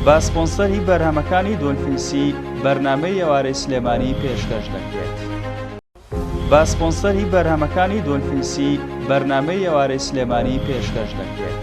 بە سپۆنسەری بەرهەمەکانی دۆلفینسی بەرنامەی ئێوارەی سلێمانی پێشکەش دەکرێت. بە سپۆنسەری بەرهەمەکانی دۆلفینسی بەرنامەی ئێوارەی سلێمانی پێشکەش دەکرێت.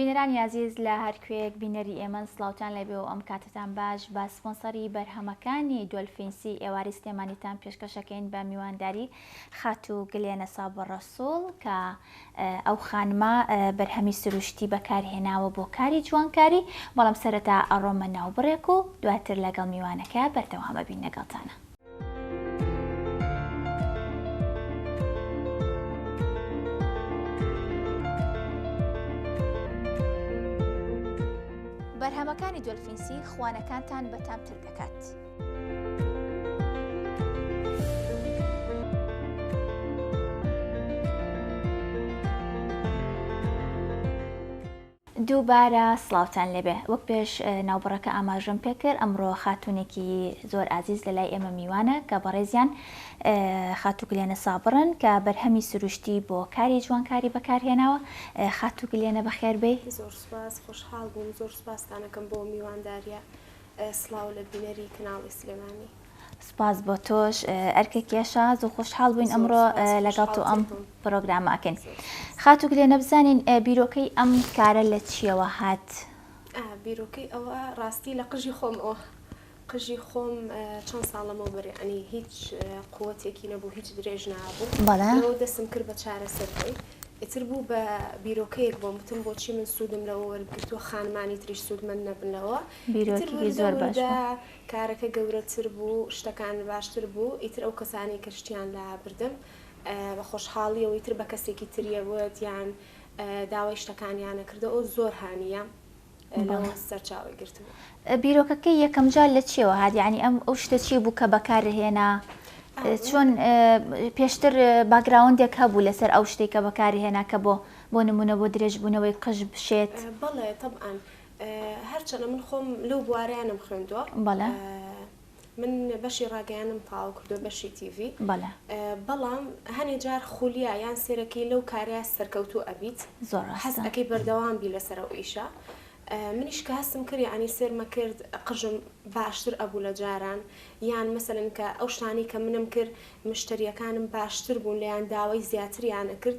بینەرانی ئازیز لە هەر کوێیەک بینەری ئێمەن سلااوان لەبێ و ئەم کاتتان باش بە سپۆنسەری بەرهەمەکانی دۆلفینسی ئێواری سلێمانیتان پێشکەشەکەین بە میوانداری خاتوو گلێنە سابە ڕەسووڵ کە ئەو خانمە بەرهەمی سروشتی بەکارهێناوە بۆ کاری جوانکاری، بەڵام سەرەتا ئەڕۆمە ناوبڕێک و دواتر لەگەڵ میوانەکە بەردەوام ئەبین لەگەڵتانا. بەرهەمەکانی دۆلفینسی خوانەکانتان بەتامتر دەکات. دووبارە سڵاوتان لێبێ وەک پێش ناوبڕەکە ئاماژم پێکرد ئەمڕۆ خاتونێکی زۆر ئازیز لە لای ئێمە میوانە کە بەڕێزیان خاتوگلێنە سابڕن کە بەرهەمی سروشتی بۆ کاری جوانکاری بەکارهێناوە خاتوگلێنە بەخێربێ زۆر سپاس خۆشحاڵ بووم زۆر سپاستانەکەم بۆ میوانداریە سڵاو لە بینەری کەناڵی سلێمانی. سوپاس بۆ تۆش ئەرکێکیە شاز و خۆشحاڵ بووین ئەمڕۆ لەگەڵ تۆ ئەم پرۆگرامە ئەکەین خاتوو گلێ نەبزانین بیرۆکەی ئەم کارە لە چیەوە هات بیرۆکەی ئەوە ڕاستی لە قژی خۆم ئەو قژی خۆم چەند ساڵەمەوە بەرێعنی هیچ قوتێکی نەبوو هیچ درێژ نابوو بەڵەوە دەسم کرد بە چارەسەرەکەی ئیتر بوو بە بیرۆکەیەک بۆم بتم بۆچی من سوودم لەوە وەرگتووە خانمانی تریش سوودمەند نەبنەوە ئیتر بیرۆکێکی زۆر بەردەوری باش دا بوو. کارەکە گەورەتر بوو شتەکان باشتر بوو ئیتر ئەو کەسانەی کە شتیان لا بردم بە خۆشحاڵیەوە ئیتر بە کەسێکی تریە وت یان داوای شتەکانیانە کردە ئەو زۆر هانیە بەڵێ. لەوە سەرچاوەی گرت بوو. بیرۆکەکەی یەکەم جار لە چیەوە هات یانی ئەم ئەو شتە چی بوو کە بەکار هێنا چۆن پێشتر باگراوندێک هەبوو لەسەر ئەو شتەی کە بەکاری هێنا کە بۆ بۆ نمونە بۆ درێژ بوونەوەی قژ بشێت. بەڵێ تەبعەن هەرچەنە من خۆم لەو بوارەیانم خوێندووە بەڵێ من بەشی ڕاگەیانم تاو کردو بەشی تیV بەڵێ بەڵام هەنێ جار خولیا یان سێرەکەی لەو کارەیە سەرکەوتو ئەبیت زۆر حەزەکەی بەردەوام بی لەسەر ئەو ئیشە منیش کە هەستم کرد ینی سێرمە کرد قژم باشتر ئەبوو لە جاران یان مەسەن کە ئەو شتانی کە منم کرد مشتریەکانم باشتر بوون لەیان داوای زیاتریانە کرد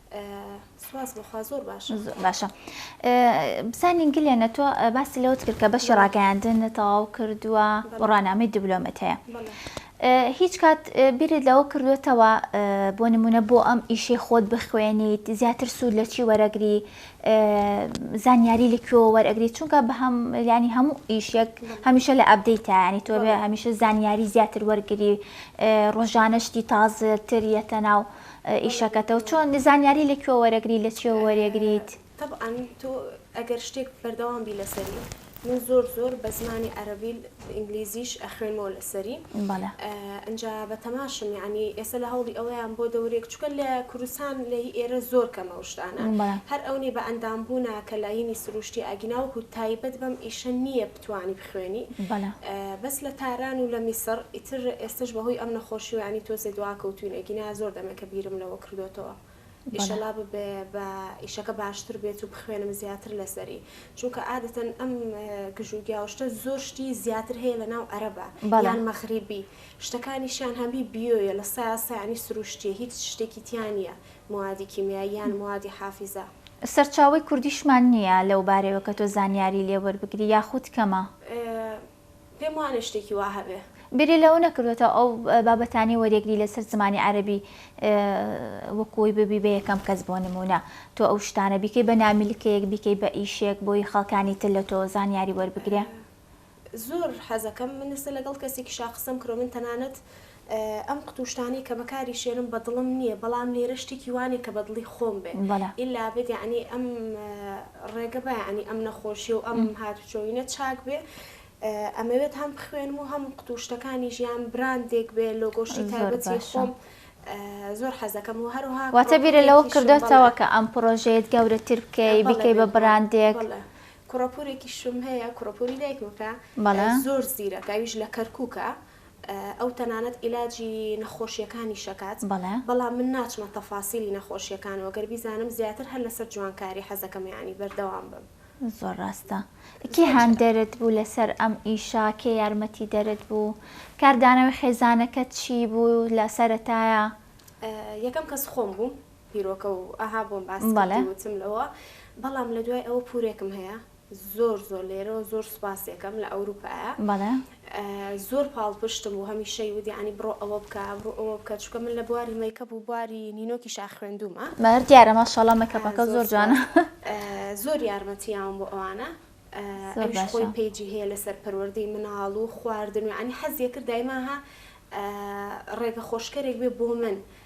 سواس بخوا زۆر باشە باشە بزانین گلێنە تۆ باسی لەوت کرد کە بەشی ڕاگەیاندن تەواو کردووە و ڕنامەی دیبلۆمەت هەیە هیچ کات بیرت لەوە کردوێتەوە بۆ نمونە بۆ ئەم ئیشەی خۆت بخوێنیت زیاتر سوود لە چی وەرەگری زانیاری لەکوێوە وەرەگری چونکە بە هەم ینی هەموو ئیشێک هەمیشە لە ئەبدەیتانی تۆ بێ هەمیشە زانیاری زیاتر وەرگری ڕۆژانە شتی تازتر یەتە ناو ئیشەکەتەو چۆن زانیاری لە کوێ وەرەگری لە چیەوە وەرێگریت؟ تەبعەن تۆ ئەگەر شتێک بەردەوام بی لەسەری من زۆر زۆر بە زمانی عەرەبی ئینگلیزیش ئەخوێنمەوە لەسەری بەڵێ ئەنجا بە تەماشم یعنی ئێستا لە هەوڵی ئەوەیان بۆ دەورێک چکە لە کوردستان لە هی ئێرە زۆر کەمە و شتانە بەڵێ هەر ئەونەی بە ئەندام بوونە کە لایینی سروشتی ئاگیناوەکو تایبەت بەم ئیشە نییە توانی بخوێنی بەڵێ. بەس لە تاران و لە میسڕ ئیتر ئێستەش بەهۆی ئەم نەخۆشیوە یانی تۆزێ دواکەوتوین ئەگینا زۆر دەمێکە بیرم لەوە کردۆتەوە ئیشەلا ببێ بە ئیشەکە باشتر بێت و بخوێنم زیاتر لەسەری چونکە ئادەتەن ئەم گژ و گیا و شتە زۆر شتی زیاتر هەیە لە ناو ئەرەبا بەڵێ. یان مەغریبی شتەکانیشیان هەمی بیۆیە لە سایە سایانی سروشتیە هیچ شتێکی تیا نیە موادی کیمیایی یان موادی حافیزە. سەرچاوەی کوردیشمان نییە لەو بارەیەوە کە تۆ زانیاری لێ وەربگری یاخود کەمە؟ پێم وانیە شتێکی وا هەبێ. بیری لەوە نەکردووتەوە ئەو بابەتانەی وەریەگری لەسەر زمانی عەرەبی وەکو وی ببی بە یەکەم کەس بۆ نموونە تۆ ئەو شتانە بیکەی بە نامیلکەیەک بیکەی بە ئیشێک بۆی خەڵکانی تر لە تۆ زانیاری وەربگرێ؟ زۆر حەزەکەم من ئێستا لەگەڵ کەسێکی شاخ قسەم کردوە من تەنانەت ئەم قوتو شتانەی کە بەکاری شێنم بە دڵم نیە بەڵام لێرە شتێکی وانیە کە بە دڵی خۆم بێ ئیلا بێت یەعنی ئەم ڕێگە بە یەعنی ئەم نەخۆشیە و ئەم هاتو چۆینە چاک بێ ئەمەوێت هەم بخوێنم و هەم قوتو شتەکانی ژیان براندێک بێ لۆگۆ شتی تایبەتی خۆم زۆر حەزەکەم و هەروها واتە بیرە لەوە کردۆتەوە کە ئەم پرۆژەیەت گەورەتر بکەی بیکەی بە براندێک کوڕە پورێکیشم هەیە کوڕە پوری دایکم کە زۆر زیرەکە ئەویش لە کەرکووکە ئەو تەنانەت ئیلاجی نەخۆشیەکانی شەکات بەڵام من ناچمە تەفاسیلی نەخۆشیەکان و گەر بیزانم زیاتر هەر لەسەر جوانکاری حەزەکەم یانی بەردەوام بم. زۆر ڕاستە کێ هاندەرت بوو لەسەر ئەم ئیشە کێ یارمەتی دەرت بوو کاردانەوەی خێزانەکەت چی بوو لە سەرەتایا؟ یەکەم کەس خۆم بووم پیرۆکە و ئەها بۆم باس کردی وتم لەوە بەڵام لە دوای ئەوە پورێکم هەیە زۆر زۆر لێرەوە زۆر سوپاسێکەم لە ئەوروپایە زۆر پاڵپشتم و هەمیشەی ودی عنی بڕۆ ئەوە بکە بڕۆ ئەوە بکە چکە من لە بواری مەیکە بوو بواری نینۆکی شا خوێندومە مەر دیارە ماشەڵە مەکەپەکە زۆر جوانە زۆر یارمەتییاوم بۆ ئەوانە خۆی پێجی هەیە لەسەر پەروەردەی مناڵ و خواردن و عنی حەزیە کرد دایماها ڕێگە خۆشکەرێک بێ بۆ من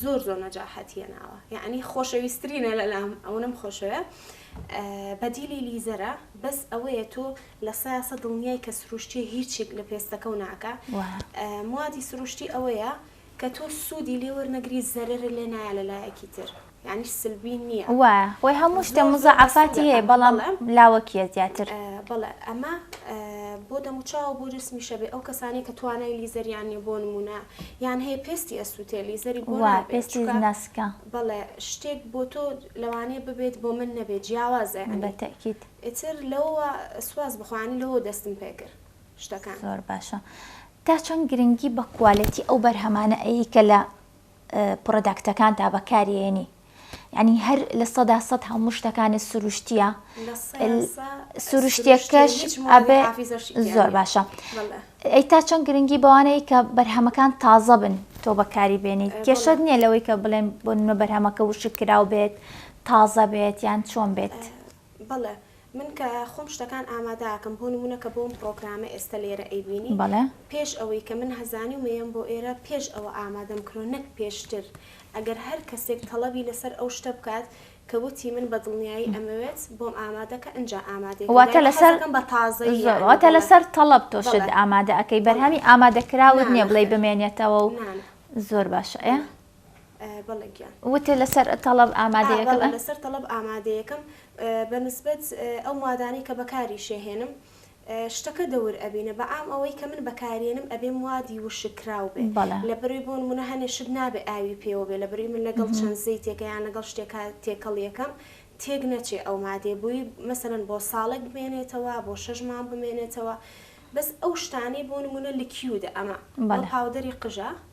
زۆر زۆر نەجاحەت هێناوە یەعنی خۆشەویسترینە لەلام ئەونەم خۆشەوێ بەدیلی لیزەرە بەس ئەوەیە تۆ لە سایاسە دڵنیای کە سروشتی هیچێک لە پێستەکە و ناکە موادی سروشتی ئەوەیە کە تۆ سوودی لێوەرنەگری زەرەرە لێ نایە لە لایەکی تر یعنی سلبی نییە وە خۆی هەموو شتە مزەعافاتی هەیە بەڵام لاوەکیە زیاتر بەڵێ ئەمە بۆ دەموچاو بۆ جسمیشە بێ ئەو کەسانی کە توانای لیزەریان نیە بۆ نمونە یان هەیە پێستی ئەسووتێ لیزەری بۆ وا نابێ پێستی چونکە ناسکە بەڵێ شتێک بۆ تۆ لەوانەیە ببێت بۆ من نەبێت جیاوازە یانی بەتەئکید ئیتر لەوە سواس بخۆ یانی لەوە دەستم پێ کرد شتەکان. زۆر باشە تا چەند گرنگی بە کوالێتی ئەو بەرهەمانە ئەیەی کە لە پڕۆداکتەکانتا بەکاریێنی؟ یانی هەر لە سەدا سەد هەموو شتەکانت سروشتیە سروشتەکەش ئەبێ زۆر باشە ئەی تا چەند گرنگی بەوانەیە کە بەرهەمەکان تازە بن تۆ بەکاری بێنیت کێشت نییە لەوەی کە بڵێن بۆ نمە بەرهەمەکە وشک کراو بێت تازە بێت یان چۆن بێت بڵێ من کە خۆم شتەکان ئامادە ئەکەم بۆ نمونە کە بۆم پڕۆگرامە ئێستە لێرە ئەیبینی بەڵێ. پێش ئەوەی کە من هەزانی و مەیەم بۆ ئێرە پێش ئەوە ئامادەم کرۆ نەک پێشتر ئەگەر هەر کەسێک تەڵەبی لەسەر ئەو شتە بکات کە وتی من بە دڵنیایی ئەمەوێت بۆم ئامادە کە ئنجا ئامادەی کە یانی حەز ئەکەم بە تازەیی یانی بڵێم واتە لەسەر تەڵەب تۆ شت ئامادە ئەکەی بەرهەمی ئامادە کراوت نیە بڵێی بمێنێتەوە و زۆر باشە ئێ. بەڵێ گیان. وتت لەسەر تەڵەب ئامادەیەکم. ئا بەڵێ لەسەر تەڵەب ئامادەیەکم بە نسبەت ئەو موادانەی کە بەکاریشیهێنم شتەکە دەور ئەبینە بە عام ئەوەی کە من بەکاریێنم ئەبێ موادی وشک کراو بێ لە بەروی بۆ نمونە هەنێ شت نابێ ئاوی پێوە بێ لە بەروی من لەگەڵ چەند زەیتێکە یان لەگەڵ شتێکا تێکەڵ یەکەم تێک نەچێ ئەو مادەیە بوی مەسەلەن بۆ ساڵێک بمێنێتەوە بۆ شەش مانگ بمێنێتەوە بەس ئەو شتانەی بۆ نمونە لکیودە ئەمە بەڵێ پاودەری قژە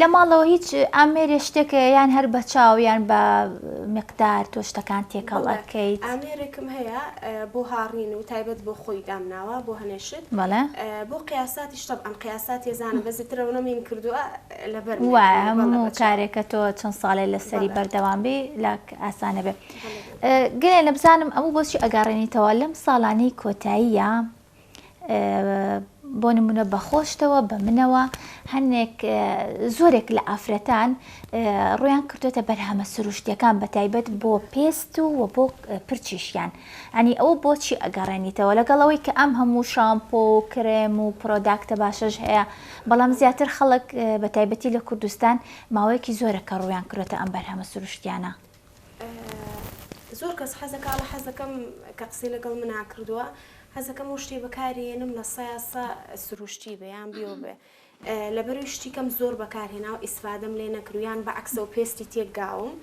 لە ماڵەوە هیچ ئامێرێ شتێک یان هەر بە چاو یان بە مقدار تۆ شتەکان تێکەڵ ئەکەیت ئامێرێکم هەیە بۆ هاڕین و تایبەت بۆ خۆی دامناوە بۆ هەنێشت بەڵێ بۆ قیاساتی شتە ئەم قیاسات ێزانم بەزی ترەوەە مین کردووە لەبەر وایە هەموو کارێکە تۆ چەند ساڵێ لەسەری بەردەوام بێ لاک ئاسانە بێ گەێ لە بزانم ئەمە بۆچی ئەگەڕێنیتەوە لەم ساڵانەی کۆتاییە بۆ نمونە بە خۆشتەوە بە منەوە هەنێک زۆرێک لە ئافرەتان ڕویان کردوێتە بەرهەمە سروشتیەکان بە تایبەت بۆ پێست و و بۆ پرچیشیان ئەنی ئەو بۆچی ئەگەڕێنیتەوە لەگەڵەوەی کە ئەم هەموو شامپۆ و کرێم و پرۆداکتە باشەش هەیە بەڵام زیاتر خەڵک بە تایبەتی لە کوردستان ماوەیەکی زۆرە کە ڕویان کرێتە ئەم بەرهەمە سروشتیانە زۆر کەس حەزەکا ئەڵێ حەزەکەم کە قسەی لەگەڵ منا کردووە حەزەکەم و شتێ بەکارێنم لە سایاسە سروشتی بێ یان بیۆ بێ لەبەروی شتی کەم زۆر بەکارهێنا و ئیسفادەم لێ نەکرویان بە عکسە و پێستی تێکگاوم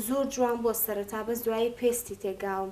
زۆر جوان بۆ سەرتا بەس دوایی پێستی تێکگاوم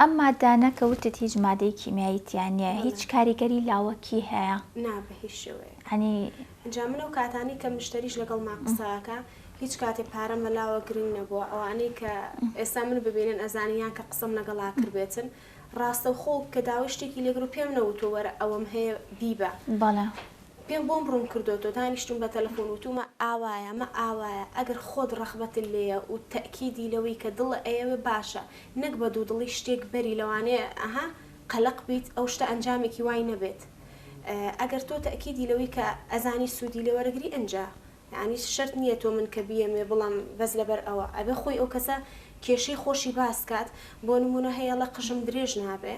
ئەم مادانە کە وتت هیچ مادەی کیمیایی تیا نیە هیچ کاریگەری لاوەکی هەیە؟ نا بە هیچ شێوەیەک. عنی. جا من ئەو کاتانەی کە مشتەریش لەگەڵما قسە ئەکا هیچ کاتێ پارەم بە لاوە گرنگ نەبووە ئەوانەی کە ئێستا من ببینن ئەزانن یان کە قسەم لەگەڵا کردبێتن ڕاستەوخۆ کە داوای شتێکی لێ کرد پێم نەوتووە وەرە ئەوەم هەیە بیبە بەڵێ پێم بۆم ڕوون کردۆتەوە دانیشتووم بە تەلەفۆن وتوومە ئاوایە مە ئاوایە ئەگەر خۆت ڕەخبەتت لێیە و تەئکیدی لەوەی کە دڵە ئەیەوێ باشە نەک بە دوودڵی شتێک بەری لەوانەیە ئه قەلەق بیت ئەو شتە ئەنجامێکی وای نەبێت ئەگەر تۆ تەئکیدی لەوەی کە ئەزانی سوودی لێ وەرەگری ئنجا یەعنی شەرت نییە تۆ من کە بیەموێ بڵێم بەس لەبەر ئەوە ئەبێ خۆی ئەو کەسە کێشەی خۆشی باس کات بۆ نموونە هەیەڵە قژم درێژ نابێ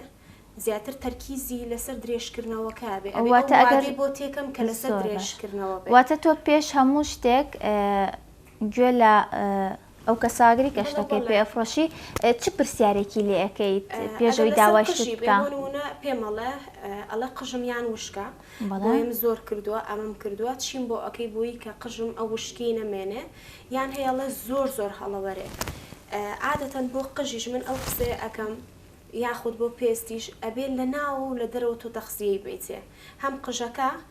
زیاتر تەرکیزی لەسەر درێژ کردنەوەکە بێ ئەبێ ئەو وادەی بۆ تێکەم کە لەسەر درێژ کردنەوە بێ. واتە تۆ پێش هەموو شتێک گوێ لە ئەو کەسە ئاگری کە شتەکەی پێ ئەفرۆشی چ پرسیارێکی لێ ئەکەیت پێش ئەوی داوای شتت بکا؟ ئەگەر لەسەر قژی بێ بۆ نمونە پێم ئەڵێ ئەڵێ قژم یان وشکە بۆیم زۆر کردوە ئەمەم کردوە چیم بۆ ئەکەی بۆی کە قژم ئەو وشکیەی نەمێنێ یان هەیە ئەڵێ زۆر زۆر هەڵەوەرێ عادەتەن بۆ قژیش من ئەو قسەیە ئەکەم یاخود بۆ پێستیش ئەبێ لە ناوەوە و لە دەرەوە تۆ تەخزیەی بەیتێ هەم قژەکە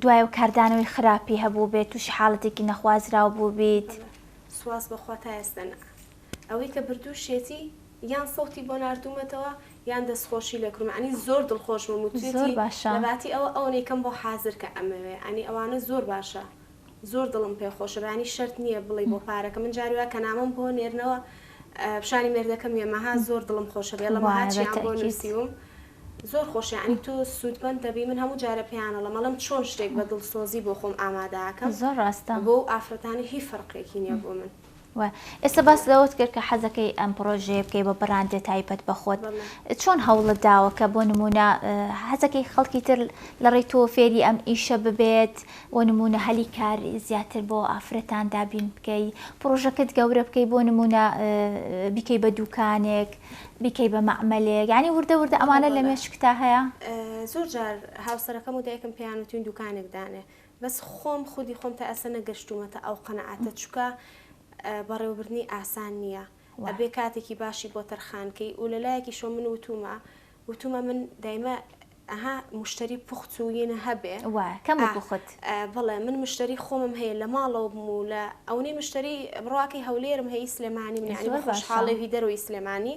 دوای ئەو کاردانەوەی خراپی هەبووبێت تووشی حاڵەتێکی نەخوازراو بووبیت. سوپاس بەخوا تا ئێستە نا. ئەوەی کە بردووشیەتی یان سەوتی بۆ ناردوومەتەوە یان دەستخۆشی لێ کرووم ئەنی زۆر دڵخۆشمم و توێتی لەباتی ئەوە ئەونەیکەم بۆ حازر کە ئەمەوێ ئەنی ئەوانە زۆر باشە زۆر دڵم پێ خۆشە بەیانی شەرت نیە بڵێی بۆ پارەکە من جاری وایە کە نامەم بۆ نێرنەوە پیشانی مێردەکەم یە مەها زۆر دڵم خۆشە بێڵە مەها چیان بۆ نووسیوم زۆر خۆش یانی تۆ سوودمەند دەبی من هەموو جارە پێیان ئەڵێم ئەڵێم چۆن شتێک بە دڵسۆزی بۆ خۆم ئامادە ئەکەم زۆر ڕاستە بۆ ئافرەتانی هیچ فەرقێکی نیە بۆ من. وایە ئێستا باس لەوەت کرد کە حەزەکەی ئەم پرۆژەیە بکەی بە بڕاندێ تایبەت بە خۆت چۆن هەوڵت داوە کە بۆ نمونە حەزەکەی خەڵکی تر لە ڕێی تۆ فێری ئەم ئیشە ببێت بۆ نمونە هەلی کار زیاتر بۆ ئافرەتان دابین بکەی پرۆژەکەت گەورە بکەی بۆ نمونە بیکەی بە دوکانێک بیکەی بە معمەلێک ینی وردە وردە ئەمانە لە مێشکتا هەیە زۆر جار هاوسەرەکەم و دایکم پێیان وتین دوکانێک دانێ بەس خۆم خودی خۆم تا ئێستا نەگەشتومەتە ئەو قەناعەتە چوکە بەڕێوەبردنی ئاسان نیە ئەبێ کاتێکی باشی بۆ تەرخان کەی و لەلایەکیشەوە من وتومە وتومە من دایمە ئەها موشتەری پوخت و ینە هەبێ ئا بەڵێ من مشتەری خۆمم هەیە لە ماڵەوە بم و لە ئەونەی مشتەری بڕواکەی هەولێرم هەی سلێمانیم یانی بە خۆشحاڵێ هی دەرەوەی سلێمانی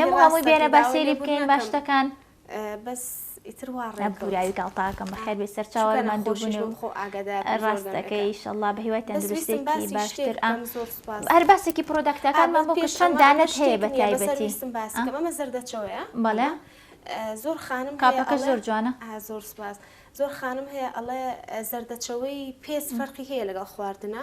نەموو هەمووی بێنە با سێری بکەین با شتەکان بەس ئیتر وا ڕێ پوراوی گاڵتاکەم بەخێر بێ سەرچاوە لە مادۆبوون و خۆ ئاگادا ڕاستەکەی ئیشەڵڵا بە هیوای تەندروستێکی باشتر ئەم زۆر سوپاس هەر باسێکی پرۆداکتەکان من بۆ کە چەند دانەت هەیە بە تایبەتی ویستم باس کەم ئەمە زەردەچەوەیە بەڵێ زۆر خانم کاپەکە زۆر جوانە زۆر سوپاس زۆر خانم هەیە ئەڵێ زەردەچەوەی پێست فەرقی هەیە لەگەڵ خواردنە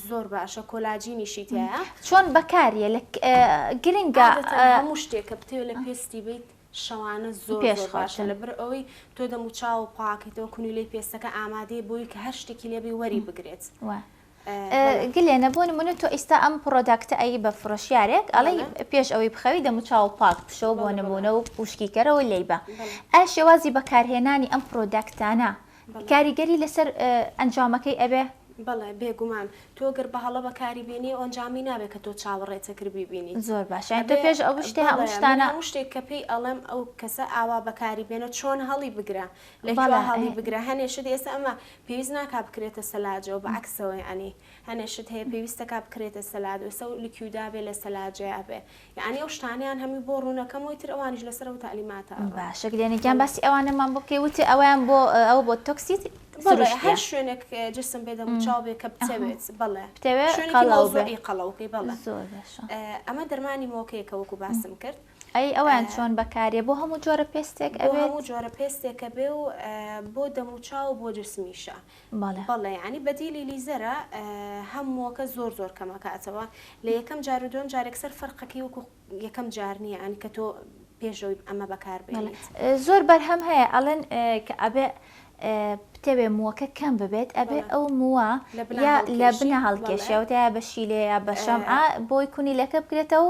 زۆر باشە کۆلاجینیشی تیایە. چۆن بەکاریە لە گرنگە عادەتەن هەموو شتێک کە بتەوێت لە پێستی بیت شەوانە زۆر زۆر باشە لەبەر ئەوەی تۆ دەم و چاو پاکەیتەوە کونیلەی پێستەکە ئامادەیە بۆی کە هەر شتێکی لێ بی وەری بگرێت گلێنە بۆ نمونە تۆ ئیستا ئەم پڕۆداکتە ئەی بە فرۆشیارێک ئەڵی پێش ئەوەی بخەوی دەم و چاو پاک بشەوە بۆ نمونە و وشکی کەرەوە لێی بە ئەیا شێوازی بەکارهێنانی ئەم پرۆداکتانە کاریگەری لەسەر ئەنجامەکەی ئەبێ؟ بەڵێ بێگومان، تۆ گەر بە هەڵە بەکاری بێنی ئەو ئەنجامی نابێ کە تۆ چاوەڕێتە کر بیبینیت. زۆر باشە یانی تۆ پێش ئەو شتێ ئەو شتانە. بەڵێ من هەموو شتێک کە پێی ئەڵێم ئەو کەسە ئاوا بەکاری بێنە چۆن هەڵی بگرە لە کوێ هەڵی بگرە هەنێ شت ئێستا ئەمە پێویست ناکا بکرێتە سەلاجەوە بە عەکسەوە یانی هەنێ شت هەیە پێویستەکا بکرێتە سەلاد ئێستا لکیودا بێ لە سەلاجەیا بێ یەعنی ئەو شتانەیان هەمووی بۆ ڕوونەکەم وەی تر ئەوانیش لەسەر ئەو تەعلیماتە ئەوە. باشە گلێنە گیان باسی ئەوانەمان بۆ بکەی وتی ئەوەیان بۆ ئەوە بۆ تۆکسی سروشتیە. بەڵێ هەر شوێنێک جسم بێ دەم و چاو بێ کە بتەوێت بەڵێ بتەوێ شوێنێکی مەوزوعی قەڵەو بکەی بەڵێ زۆر باشە ئەمە دەرمانی مۆکەیەکە وەکو باسم کرد. ئەی ئەوەیان چۆن بەکاریە بۆ هەموو جۆرە پێستێک ئەوێت؟ بۆ هەموو جۆرە پێستێکە بێ و بۆ دەم و چاو و بۆ جسمیشە بەڵێ. بەڵێ یانی بەدیلی لیزەرە هە موەکە زۆر زۆر کەمە کاتەوە لە یەکەم جارو دوەم جار یەکسەر فە رقەکەی وەکو یەکەم جار نیە یانی کە تۆ پێش ئەوی ئەمە بەکار بێنیت. زۆر بەرهەم هەیە ئەڵێن کە ئەبێ بتەوێ موەکە کەم ببێت ئەبێ ئەو موە یا لە بنە هەڵکێشێ وتە یا بە شیلێ یا بە شەم عە بۆی کونیلەکە بکرێتە و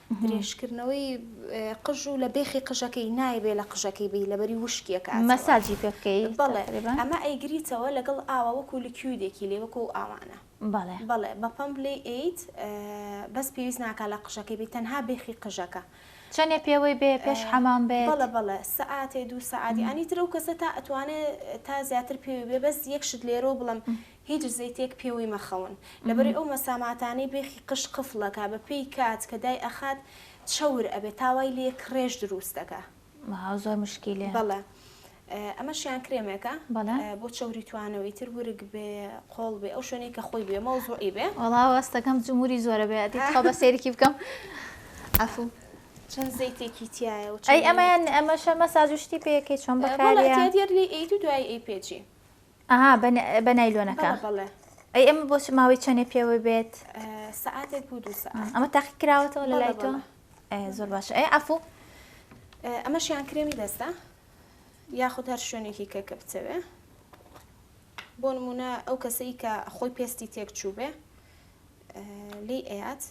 درێژکردنەوەی قژ و لە بێخی قژەکەی نایەبێ لە قژەکەی بی لەبەری وشکی ئەکاتەوە. مەساجی پێ بکەی بەڵێ تەقریبا. ئەمە ئەیگریتەوە لەگەڵ ئاوە وەکو لکیودێکی لێ وەکو ئەو ئاوانە. بەڵێ. بەڵێ بە پەمپ لێی ئەیت بەس پێویست ناکا لە قژەکەی بی تەنها بێخی قژەکە. چەنێ پێوەی بێ پێش حەمام بێت؟ بەڵێ بەڵێ سەعاتێ دوو سەعات یانی تر ئەو کەسە تا ئەتوانێ تا زیاتر پێوەی بێ بەس یەک شت لێرەوە بڵێم هیچ زەیتێک پێوەی مەخەون لەبەرەی ئەو مەساماتانەی بێخی قژ قفڵ ئەکا بەپێی کات کە دای ئەخات چەور ئەبێ تا وای لێ کڕێژ دروست ئەکا. واو زۆر مشکیلەیە. بەڵێ ئەمەشیان کرێمێکە بەڵێ. بۆ چەوری توانەوە ئیتر ورگ بێ قۆڵ بێ ئەو شوێنەی کە خۆی بێ مەوزوعی بێ. وەڵا وەستەکەم جموری زۆرە بێ ئەدی تخوا بە سەیرکی بکەم عەفو. چەند زەیتێکی تیایە و چەند. ئەی ئەمەیان ئەمەشە مەساج و شتی پێ ئەکەی چۆن بەکاریە. بەڵێ ئەتیە دێت لێی ئەیت و دوایی ئەیپێجی. ئەها بە بە نایلۆنەکە بەڵێ بەڵێ ئەی ئەمە بۆ چ ماوەی چەندێ پێوە بێت ئە، سەعاتێک بوو دوو سەعات ئەمە تاقی کراوەتەوە لە بەڵێ، لای تۆ بەڵێ. ئەی زۆر باشە ئەی عفو ئە، ئەمەشیان کرێمی دەستە یاخود هەر شوێنێکی کە کە بتەوێ بۆ نمونە ئەو کەسەی کە خۆی پێستی تێک چوو بێ لی ئەیات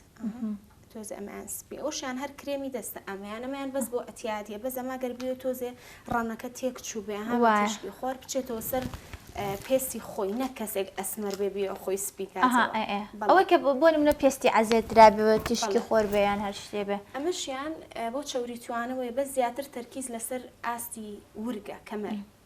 تۆزێ ئەمەیان سپی ئەوشیان هەر کرێمی دەستە ئەمەیان ئەمەیان بەس بۆ ئەتیادیە بە زەما گەربێ تۆزێ ڕەنەکە تێک چوو بێ هەواشی خۆر بچێتەوە سەر پێستی خۆی نە کەسێک ئەسمەر بێ بێ خۆی سپیکە ئەوە کە بۆ منە پێستی عزێت درابەوە تیشکی خۆر بێیان هەر شتێ بێ ئەمەشیان بۆ چوری توانەوەی بە زیاتر تەرکیز لەسەر ئاستی ورگە کەمەر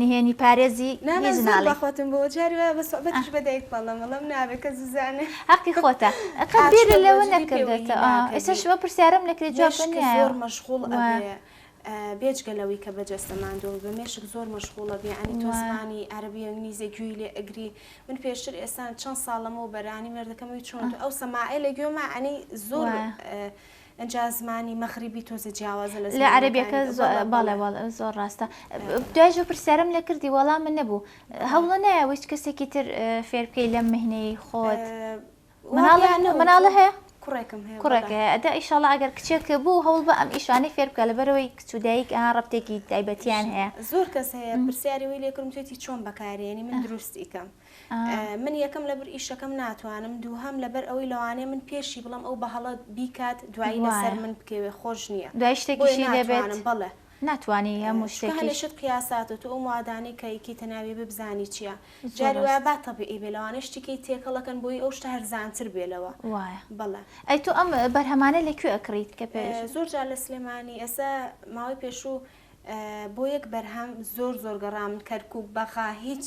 نهێنی پارێزی هیچ ناڵێی. هەقی خۆتە قەت بیرت لەوە نەکردۆتەوە ئێسەش ئەو پرسیارەم لەکرێ جواب پێ نیایە. بێجگە لەوەی کە بە جەستە ماندوو ئەبی بە مێشک زۆر مەشغوڵ ئەبی یانی تۆ زمانی عەرەبی و ئینگلیزی گوێی لێ ئەگری من پێشتر ئێستا چەند ساڵ لەمەو بەرانی مێردەکەم وی چۆن ئەو سەماعەی لە گوێما یانی زۆر ئینجا زمانی مەغریبی تۆزێ جیاوازە لە زمانی عەرەبیەکە بەڵێ بەڵێ زۆر ڕاستە دوای ژۆ پرسیارم لە کردی وەڵام من نەبوو هەوڵە نایە ویست کەسێکی تر فێر بکەی لەم مهنەی خۆت مناڵە هەیە کوڕێکم هەیە کوڕێک هەیە ئەدا ئیشاڵە ئەگەر کچێک بوو هەوڵ بە ئەم ئیشانەی فێر بکە لەبەرەوەی کچ و دایک ئا ڕەبتێکی تایبەتیان هەیە زۆر کەس هەیە پرسیاری وی لێکرم توێتی چۆن بەکارێنی من دروستی کەم من یەکەم لەبر ئیشەکەم ناتوانم دووهەم لەبەر ئەوەی لەوانەیە من پێشی بڵم ئەو بەهەڵە بیکات دوایی لەسەر من بکەوێ خۆش نییە دوای شتێکیشی لێبێنم بڵێ ناتوانانی هەموو شتێکیشت قیاسات و تو ئەو موادانەی کەیکی تەناوی ببزانی چییە جاری وایە با تەبیعی بێ لەوانە شتیکەی تێکەڵەکەن بۆی ئەو شتە هەرزانتر بێ لەوە وایە بڵێ ئەی تو ئەم بەرهەمانە لە کوێ ئەکڕیت کە پێ زۆر جار لە سلێمانی ئێستا ماوەی پێشوو بۆ یەک بەرهەم زۆر زۆر گەڕام کەرکوک بەغا هیچ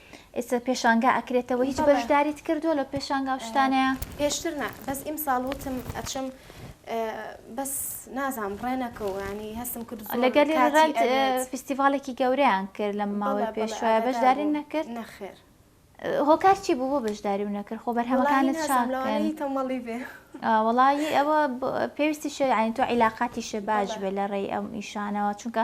ئیتر پێشانگا ئەکرێتەوە هیچ بەژداریت کردوە لە پێشانگا و شتانەیا؟ پێشتر نا بەس ئیمساڵ وتم ئەچم بەس نازام ڕێ نەکەو ینی هەستم کرد لەگەل ڕێت فیستیڤالێکی گەورەیان کرد لە ماوەی پێشوایە بەشداری نەکرد نەخێر هۆکار چی بوو بۆ بەشداری و نەکرد خۆ بەرهەمەکانت چاکەی تەمەڵی بێ وڵی ئەوە پێویستی شێعین تۆ عیلااقاتی شێ باش بێ لە ڕێی ئەم ئیشانەوە چونکە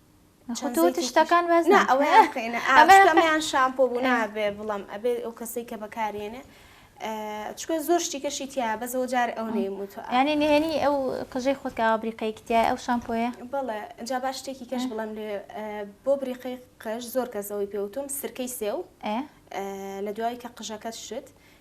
چەند تۆ زەیتێکی تشتەکان باس نا ناکەی. ئەوەیان بکەینە ئا ئەمە شتەمەیان شامپۆ بوو ئێ. نابێ بڵەم ئەبێ ئەو کەسەی کە بەکارێنێ ئە، چکە زۆر شتیکەشی تیایە بەس ئەوە جارێ ئەو نەیم وتوە ئا. یانی نهێنی ئەو قژەی خۆت کە ئاوا بریقەیەکی تیایە ئەو شامپۆیە؟ بەڵێ جا با شتێکی کەش ئێ. بڵێم لێ ئە، بۆ بریقەی قژ زۆر کەس ئەوەی پێ وتوم سرکەی سێو ئێ. ئە، لە دوای کە قژەکەت شت،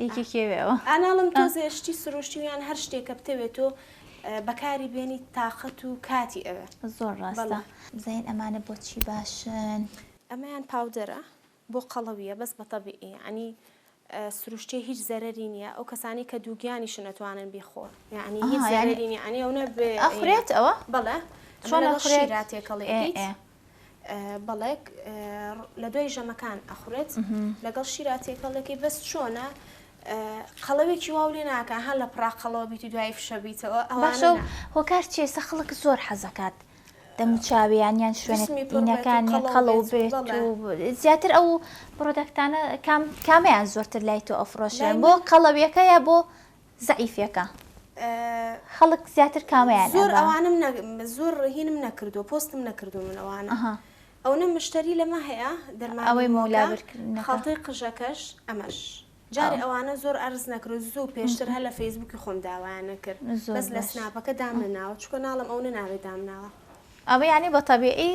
ئی کی کێ وێ ئەوە. ئاناڵم تۆزێ شتی سروشتی و یان هەر شتێک کە بتەوێ تۆ بەکاری بێنیت تاقەت و کاتی ئەوێ. زۆر ڕاستە بزانین ئەمانە بۆچی باشن. ئەمەیان پاودەرە بۆ قەڵەویە بەس بە تەبیعی یانی سروشتیە هیچ زەرەری نیە ئەو کەسانی کە دووگیانیشن ئەتوانن بیخۆن یانی هیچ زەرەری نیە یانی ئەونە بێ ئەخورێت ئەوە بەڵێ چۆن ئەخورێت تێکەڵی ئەکەیت. بەڵێک لە دوای ژەمەکان ئەخورێت لەگەڵ شیرا تێکەڵەکەی بەس چۆنە قەڵەوێکی واو لێ ناکە هەر لە پراقەڵەوە بیت و دوای فشەبییتەوە ئەواشە هۆکار چێسە خەڵک زۆر حەزەکات دەموچاویان یان شوێنەکان قەڵەو بێت زیاتر ئەو پرۆدەکتانە کامیان زۆرتر لای تۆ ئەفرۆشیان بۆ قەڵەویەکە یا بۆ زەعیفێکە خەڵک زیاتر کامەیان زۆر ئەبا. ئەوانم نە زۆر هینم نەکردووە پۆستم نەکردوون من ئەوانە ئەها ئەونە مشتەری لەمە هەیە دەرمانی ئەوەی مۆلا مۆکە برکردنەکە خەڵتەی قژەکەش ئەمەش ئەو جارێ ئەوانە زۆر عەرز نەکرو زوو م پێشتر هەر لە فەیسبووکی خۆم داوایان نەکرد زۆر بەس لە باش سناپەکە دامنناوە چونکە ناڵێم ئەونە ناوێ دامناوە. ئەوە یانی بە تەبیعی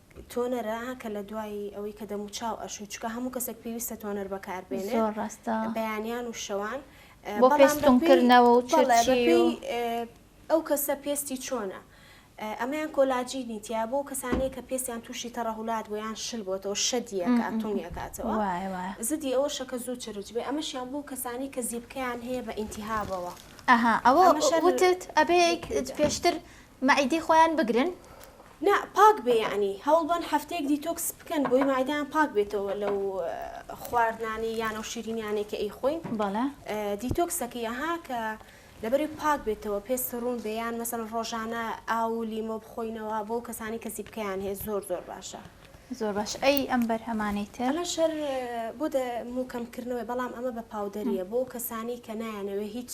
تۆنەرە کە لە دوای ئەوەی کە دەموچاو ئەشوو چکە هەموو کەسێک پێویستە تۆنەر بەکار بێنێ زۆر ڕاستە بەیانیان و شەوان بۆ پێستونکردنەوە و ئەو کەسە پێستی چۆنە ئەمەیان کۆلاجی نیتیا بۆ کەسانەیە کە پێستیان تووشی تەڕەهولات بۆ یان شل بۆتەوە شەدیەکە تونیەکاتەوە زدی ئەوە شەکە زوو چرج بێ ئەمەشیان بۆ کەسانی کە زیبکەیان هەیە بە ئینتیهابەوە ئەها ئەوە وتت ئەبێ پێشتر مەعیدەی خۆیان بگرن. نا پاک بێ یەعنی هەوڵبەن هەفتەیەک دیتۆکس بکەن بۆی مەعیدەیان پاک بێتەوە لەو خواردنانەی یان ئەو شیرینیانەی کە ئەیخۆین بەڵێ دیتۆکس ئەکەی ئەها کە لەبەرئەوەی پاک بێتەوە پێست ڕوون بێ یان مەسەڵەن ڕۆژانە ئاو و لیمۆ بخۆینەوە بۆ ئەو کەسانەی کە زیپکەیان هەیە زۆر زۆر باشە. زۆر باش ئەی ئەم بەرهەمانەی تر. ئەمەش هەر بۆ دەموو کەمکردنەوەی بەڵام ئەمە بە پاودەرییە بۆ ئەو کەسانەی کە نایانەوێ هیچ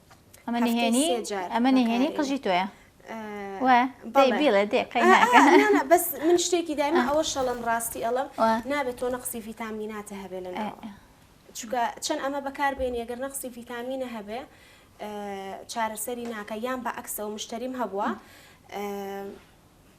ئەمە نهێنی ئەمە نهێنی قژی تۆیە بەس من شتێکی دایمە ئەوە شەڵم ڕاستی ئەڵم نابێت تۆ نەقسی ڤیتامیناتە هەبێ لە چونکە چەند ئەمە بەکاربێن یەگەر نەقسی ڤیتامینە هەبێ چارەسەری ناکە یان بە عکسەوە مشتریم هەبووە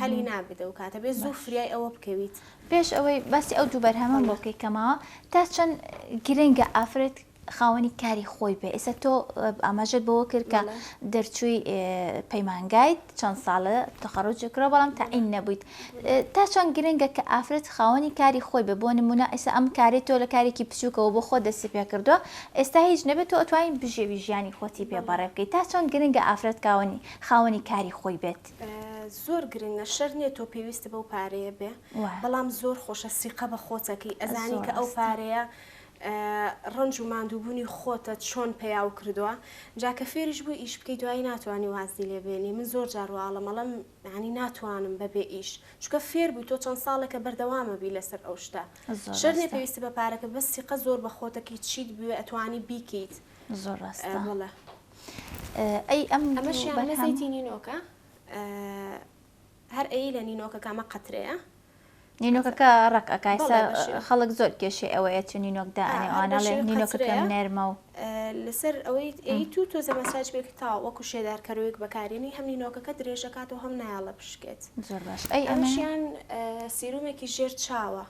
هەلی نابێت ئەو کاتە بێت زوو فریای ئەوە بکەویت. پێش ئەوەی باسی ئەو دوو بەرهەمەم بۆ بکەی کە ماوە تا چەند گرنگە ئافرەت خاوەنی کاری خۆی بێ ئێستا تۆ ئاماژەت بەوە کرد کە دەرچووی پەیمانگایت چەند ساڵە تەخەڕوجی کرا بەڵام تەعین نەبوویت تا چەند گرنگە کە ئافرەت خاوەنی کاری خۆی بێ بۆ نمونە ئێستا ئەم کاری تۆ لە کارێکی بچووکەوە بۆ خۆ دەستی پێ کردووە ئێستا هیچ نەبێت تۆ ئەتوانین بژێوی ژیانی خۆتی پێ بەڕێ بکەیت تا چەند گرنگە ئافرەت کاوەنی خاوەنی کاری خۆی بێت. زۆر گرنگە شەر نیە تۆ پێویست بەو پارەیە بێ بەڵام زۆر خۆشە سیقە بە خۆتەکەی ئەزانی کە ئەو پارەیە ڕنج و مادووبوونی خۆتە چۆن پیا و کردووە جاکە فێریش بوو ئیش بکەی دوایی ناتوانانی وازی لێبێنی من زۆر جارواڵە مەڵم ینی ناتوانم بەبێ ئیش چکە فێر بووی تۆ چەند ساڵێکە بەردەوامە بی لەسەر ئەو شتە شەرێ پێویست بە پارەکە بە سیقە زۆر بە خۆتەکەی چیت بوێ ئەتوانی بیکەیت زۆر ڕاستڵە ئەی ئەم ئەمە شیانە زەیتی نینۆکە هەر ئەی لە نینۆکە کامە قەترەیە نینۆکەکە ڕق ئەکایسە خەڵک زۆر کێشێ ئەوەیە چ نینۆک دانێوانەڵێ نینۆکەکەم نەرمە و لەسەر ئەوەی ئەی تو تۆ زەمەساج بێک تا وەکو شێدارکەرۆیەک بەکارێنی هەم نینۆکەکە درێژەکات و هەم نایاڵە بشکێت زۆر باش ئەی ئەمەشیان سیرومێکی ژێر چاوە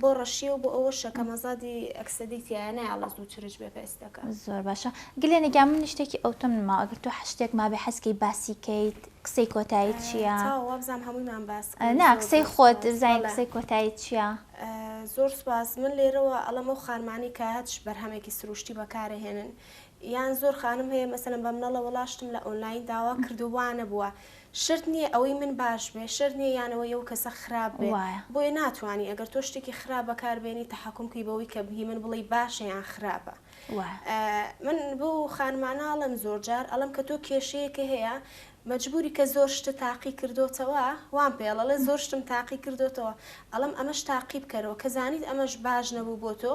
بۆ ڕەشیە و بۆ ئەوە شەکەم ئەزادی ئەکسەدی تیایە نایەڵێ زوو چرچ بێ پێستەکە. زۆر باشە گلێنە گیان من شتێکی ئەوتۆم نما ئەگەر تۆ حەشتێک مابێ حەزکەی باسی کەیت قسەی کۆتایت چییە؟ چاوە وابزانم هەموویمان باس کرد. نا قسەی خۆت بزانین قسەی کۆتایت چییە؟ زۆر سوپاس من لێرەوە ئەڵێم ئەو خانمانەی کە هەچ بەرهەمێکی سروشتی بەکارەهێنن یان زۆر خانم هەیە مەسەلەن بە منەڵە وەڵا شتم لە ئۆنلاین داوا کردووە وا نەبووە شەرت نییە ئەوەی من باش بێ شەرت نییە یان ئەوەی ئەو کەسە خراپ بێ وایە. بۆیە ناتوانی ئەگەر تۆ شتێکی خراپ بەکار بێنی تەحەکوم بکەی بەوەی کە هی من بڵێی باشە یان خراپە وایە. من بەو خانمانە ئەڵێم زۆر جار ئەڵێم کە تۆ کێشەیەکە هەیە مەجبوری کە زۆر شتت تاقی کردۆتەوە وام پێڵە ئەڵێ زۆر شتم تاقی کردۆتەوە ئەڵێم ئەمەش تاقی بکەرەوە کە زانیت ئەمەش باش نەبوو بۆ تۆ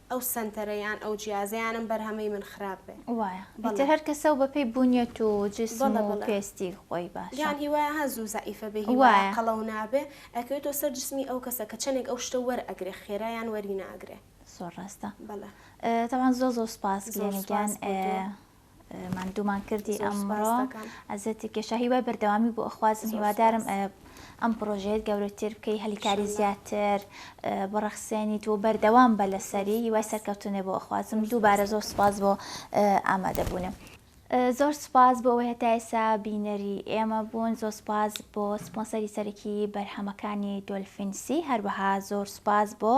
ئەو سەنتەرە یان ئەو جیازەیانم بەرهەمەی من خراپ بێ. وایە ئیتر هەر کەسەو بەپێی بونیەت و جسم و پێستی خۆی باشە. یان هیوایە هە زوو زەعیفە بێ هیوایە قەڵەو نابێ ئەکەوێتەوە سەر جسمی ئەو کەسە کە چەنێک ئەو شتە وەر ئەگرێ خێرا یان وەری ناگرێ. زۆر ڕاستە بەڵێ. تەبعەن زۆر زۆر سوپاس گلێنە گیان. زۆر سوپاس بۆ تۆ. ماندوومان کردی ئەمڕۆ ئەزەتی کێشا هیوای بەردەوامی بۆ ئەخوازم هیوادارم ئەم پرۆژەیەت گەورەتر بکەی هەلیکاری زیاتر بڕەخسێنی تۆ بەردەوام بە لەسەری هیوای سەرکەوتنێ بۆ ئەخوازم دووبارە زۆر سپاس بۆ ئامادەبوونە. زۆر سپاس بۆ ئەوەی هەتا ئێستا بینەری ئێمە بوون زۆر سپاس بۆ سپۆنسەری سەرەکی بەرهەمەکانی دۆلفین سی هەروەها زۆر سپاس بۆ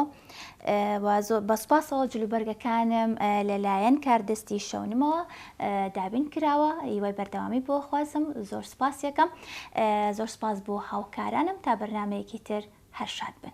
و زۆر بە سوپاسەوە جلوبەرگەکانم لەلایەن کاردەستی شەونمەوە دابین کراوە هیوای بەردەوامی بۆ خوازم زۆر سوپاسیەکەم زۆر سوپاس بۆ هاوکارانم تا بەرنمەیەکی تر هەر شاد بن.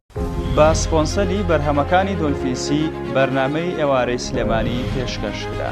بە سپۆنسەری بەرهەمەکانی دۆلفین سی بەرنامەی ئێوارەی سلێمانی پێشکەش کرا.